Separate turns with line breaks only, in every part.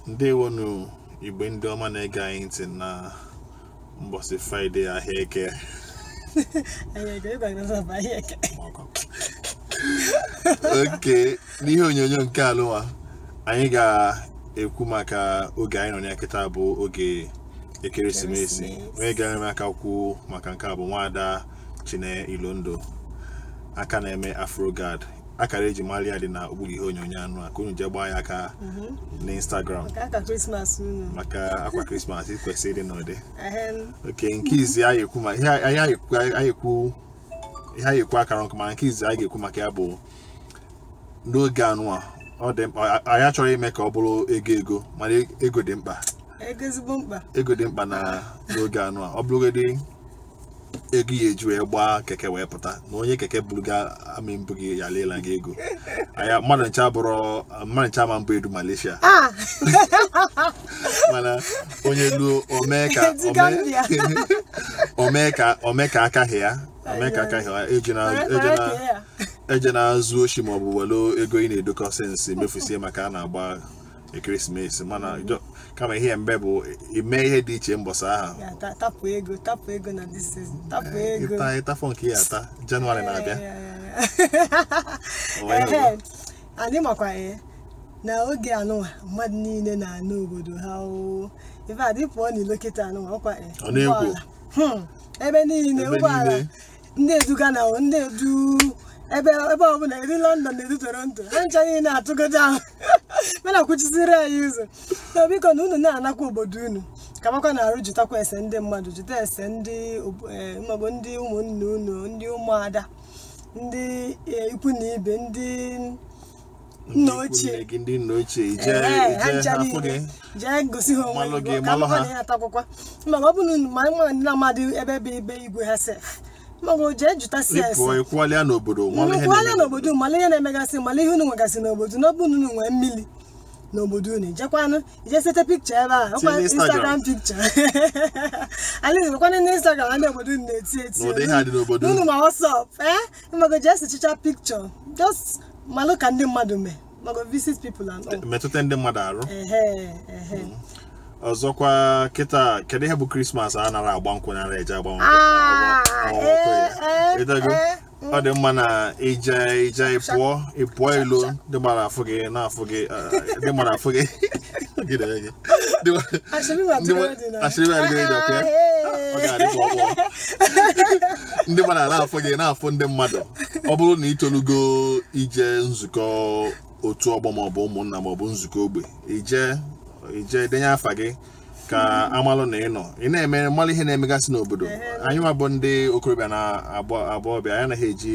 ndewonu Igbo ndị ọma na-ege anyị ntị na mbọsị fraịde ahịa eke oke n'ihe onyonyo nke anụnwa anyị ga-ekwu maka oge anyị nọ na ya kịta bụ oge ekeresimesi onye ga-enyere m aka kwuo maka nke a bụ nwaada chine ilondo aka na-eme afrogad akara eji mara ya dị na okpuru ihe onyonyo anụ a ka unu jee gbaa ya aka mhm. n'Instagram maka akwa krismas kwesịrị ịdị n'ụdị oke nke izi anyị ekwu ma ihe anyị ekwu akara nkụ ma nke izi anyị ga-ekwu maka ya bụ n'oge anụ a ọ dị mkpa anyị achọrọ ime ka ọ bụrụ ego ego mana ego dị mkpa ego dị mkpa na n'oge anụ a ọ bụrụgodị ego ị ya-eji wee gbaa keke wee pụta na onye keke buru gị amị mbụ gị ya leela gị ego anya mmadụ ncha bụrụ mmadụ ncha ma mbụ edu malaysia Ah, mana onye luo omee ka Edu Gambia. omee ka omee ka aka ha ya omee ka aka ha ya eji na mara- eji mara na ka ya. ejena zuo oshi maọbụ welu ego ị na-edokọ since mefusie maka a na-agba ekeresimesi mana jọ- kama ihe mbe bụ ime ihe dị iche mbọsị ahụ ya ta- tapụ ego tapụ ego na this season tapụ Eh, ego ịta ịtafọ nke ị ya-ata jenụwarị na-abịa O nwe ihe Ehe. anyị makwa ya na oge anụnwa mmadụ niile na-ana obodo ha oo ife adị pụọ n'ilo kịta anụnwa ọkwa ya Ọ na-ekwo. ụgbọala. Hmm. ebe niile Ebe ụgbọala niile. ndị edu Ghana o ndị edu ebe ebe ọbụla edu London edu Toronto ha ncha niile atụgo down mana kwụchiziri anyị ụzọ so biko na unu na-anakwa obodo unu ka makwa na arụ jụtakwa ese ndị mmadụ jụta ese ndị ob- eh, maọbụ ndị ụmụnne unu ndị ụmụada ndị eh, ikwu na ibe ndị nna ochie gị ndị nna ochie ị jee ha afụ gị jee gosi ha onwe gị ka mmadụ na-ata akwụkwọ ma ọ bụrụ ma nwa ndị na-amadị ebe ebe ibe igwe ha sef mago jee jụta ese kwalịa n'obodo kwalịa n'obodo mala ihe na-emegasị mala ihe unu nwegasị n'obodo n'ọbụ unu nwee mmiri n'obodo unu ijekwanụ ije sete picture ebe a ọkwa instagram picture alaeze nwekwana na instagram na obodo unu na-eti eti unu ma WhatsApp ee eh? mago jee sechicha picture just malụ ka ndị mmadụ mee mago visit people and all metụta ndị mmadụ arụ ehe ehe ọzọkwa kịta kedu ihe bụ krismas a nara agba nkwụ nara eje agba nkwụ Ah, agba- agba nkwụ ya. eh, eh, Ịtago? eh, mm. ọ dị mma na ije ije ịpụọ ịpụọ ilo ndị mara afụ gị na-afụ gị eh, ndị mara afụ gị Gị na ya gị. ndị mmadụ na-afụ gị na-afụ ndị mmadụ ọ bụrụ na ị tolugo ije nzukọ otu ọgbọ maọbụ ụmụnna maọbụ nzukọ ogbe i jee i jee denye afa gị ka a malụ na ị nọ ị na-eme malụ ihe na-emegasị n'obodo anyị nwa bụ ndị okorobịa na agbọghọbịa anyị anaghị eji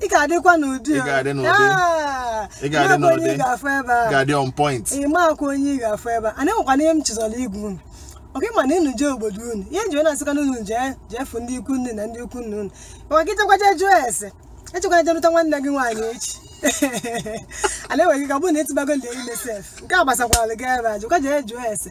ị ga-adịkwa n'ụdị Ị ga-adị n'ụdị. Ah, Ị ga-adị ị makwa onye n'ụdị. ị ga-afụ ebe a ga-adị on point ị makwa onye ị ga-afụ ebe a anaghị nwekwana ihe m chezọrọ ịgwa unu ọ ka mma na unu jee obodo unu ihe m ji wee na-asịkwa na unu jee jee fụ ndị ikwu nne na ndị ikwu nne unu maka gị jekwa je jụọ ese ejekwana je lụta nwanne gị nwaanyị echi a na-enweghị ka ọ bụrụ na ị tụbagolu ya ime sef nke a gbasakwara gị ebe a jụkwa jee jụọ ese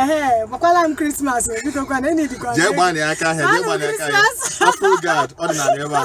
ehe gbakwala m christmas biko kwanụ enyi dịkwa jee gbaa na aka ahịa jee gbaa na aka ahịa afọ gad ọ dị n'ala ebe a